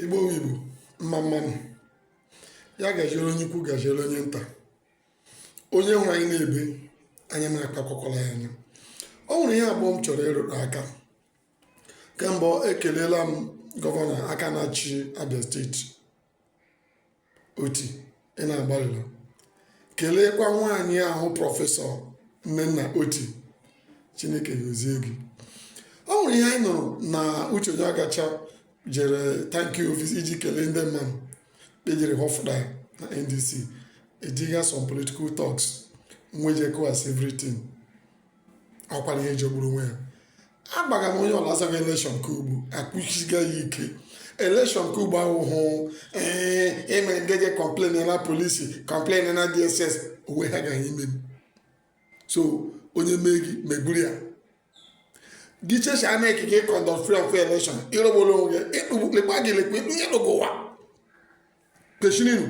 igbo igbo mma mma nụ ya gaziere onye ikwu gaziere onye nta onye nwe anyị na-ebe anya na-akpa akwakwala ya anya o nwere ihe abụọ m chọrọ ịrụrụ aka nke mbụ ekelela m gọvanọ aka na-achị abịa steeti oti ị na-agbalịla keleekwa nwaanyị ahụ prọfesọ nnenna oti chineke gozie gị o nwere ihe anyị nụrụ na uche onyeagucha jere thank you visit iji kelee ndị mmadụ kpejere ụfọdụ na ndc ejiga some political thugs nwee je kụwasa everything ọkwara ihe jọgburu onwe ya agbaga m onye ọla azaghị elekshọn ka ugbu akwụchiga ya ike elekshọn ka ugbo ahụhụ ee e mere ndị je kọmplen na polisi kọmplen na dss onwe ha gaghị ime m so onye mee gị megburu ya gị chechi a na-ekike ịkọndọt free of election ịrụgboro onwe gị ịkpụgbukpekpa gị lekwa ịkpụnye n'ụwa kwesịrịnụ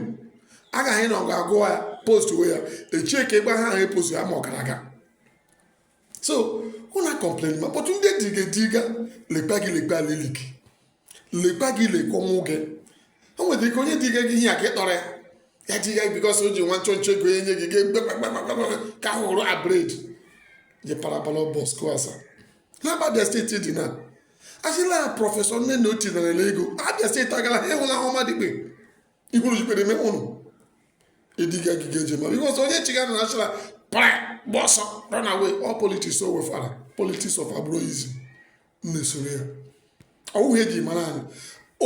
agaghị na ọ ga-agụ ya post we ya echie ka ịgba ha ahụ epost ya ma ọ gara aga so ụna kọmplen ma kpọtụ ndị diga diga lekpa gị lekpa lili gị lekpa gị lekwa ọnwụ gị o nwere ike onye diga gị ihe a ka ịtọrọ ya ya diga gị bikọs o ji nwa nchọ nchọ ego enye gị gị ka hụrụ abred je parabala bọs kụasa n'abịa steeti dị na asịla prọfesọ nnenna oti narala ego abịa steeti agala ha enwela ahụ ọma dịkpe ikwuru jikpere eme ụnụ ịdịga gị ga-eje mara ihe ọzọ onye chiga na achịla pra gbaa ọsọ run away all politics o wefara politics of agberoism na-esoro ya ọ wụghị ihe e ji mara anyị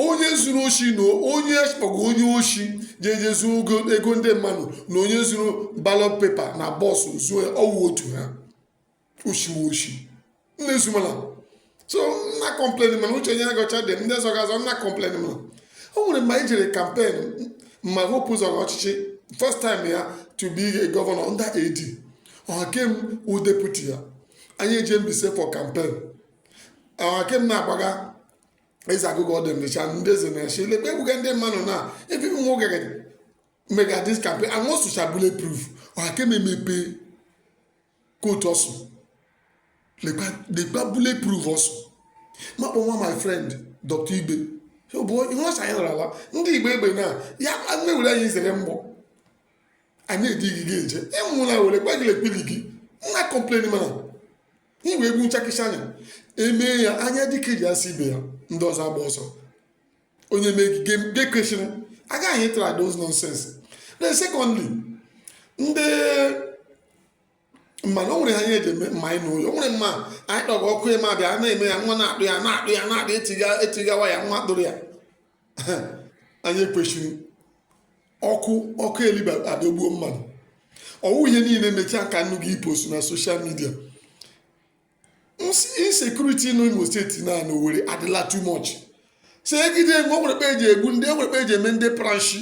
onye zuru oshi na onye kpọgo onye oshi ji eje zuo ego ndị mmadụ na onye zuru ballot paper na box zuo ya ọ wụ otu ha oshi wụ oshi nne zumala so nna kọmplen mana uche onyeagucha dị ndị zọga azọ nna kọmplen mana o nwere mgbe anyị jere kampen ma hope zọrọ ọchịchị first time ya to be a governor under AD ohakim wụ deputy ya anyị eje mbaise for kampen ohakim na-agbaga eze agụgụ ọdụ mmecha ndị eze na-eche ilekwa egbuga ndị mmadụ na ebe ụmụ nwoke mega dis kampen and once you shall bullet proof ohakim emepe kootu ọ sị lekwa bullet proof ọ sị makpọ nwa my friend dr igbe ọ bụ ihe ọcha anyị nara ndị ji egbe egbe na ya nne were anyị zere mgbọ anyị edighị gị eje ịmụla were gwa gị lekpili gị nna kọmpleni mana iwe egbu nchakịcha anya emee ya anya dịka eji asị ibe ya ndị ọzọ agba ọsọ onye megige nke kwesịrị agaghị ịtara those nonsense then secondly ndị mana o nwere ha ihe eji eme mma anyị n'ụlọ o nwere mma anyị kpọrọ ọkụ ịma bịa na-eme ya nwa na-akpụ ya na-akpụ ya na-akpụ etiga etigawa ya nwa kpụrụ ya anyị ekwesịrị ọkụ ọkụ eliba adọgbuo mmadụ ọ wụ ihe niile mechaa ka nnu ga-epost na social media insecurity n'Imo steeti na n'Owerri adịla too much so egide mgbe o nwere kpa e ji egbu ndị o nwere kpa e ji eme ndị pranshi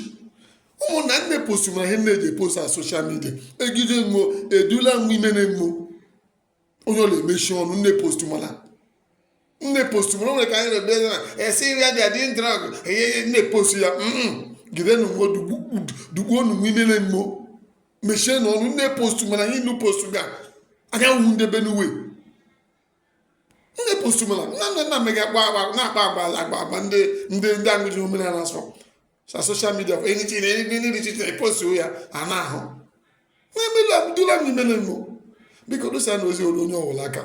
ụmụnna nnu epostu mara ihe nnu ji epost na social media egide mgbo edula mgbe ime na mgbo onye ọwụla emechi ọnụ nnu epostu mana nnu epostu mana o nwere ka anyị rebe na esi nri adị adị drag enye nnu epostu ya gidenụ mgbo dugbuo nụ n'ime na mgbo mechie na ọnụ nnu epostu mana ihe nnu postu ga agaghị hụ ndị Benue nnu epostu mana nna nna nna mega agba agba na-akpa agba ala agba agba ndị ndị ndị aṅụji omenala asọ sa social media for anything ndị ndị dị na postu ya a na-ahụ na-emela dula m imele mbụ biko dosa na ozi olu onye ọwụla aka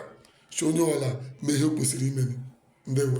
si onye ọwụla mee ihe o kwesịrị ime ndewo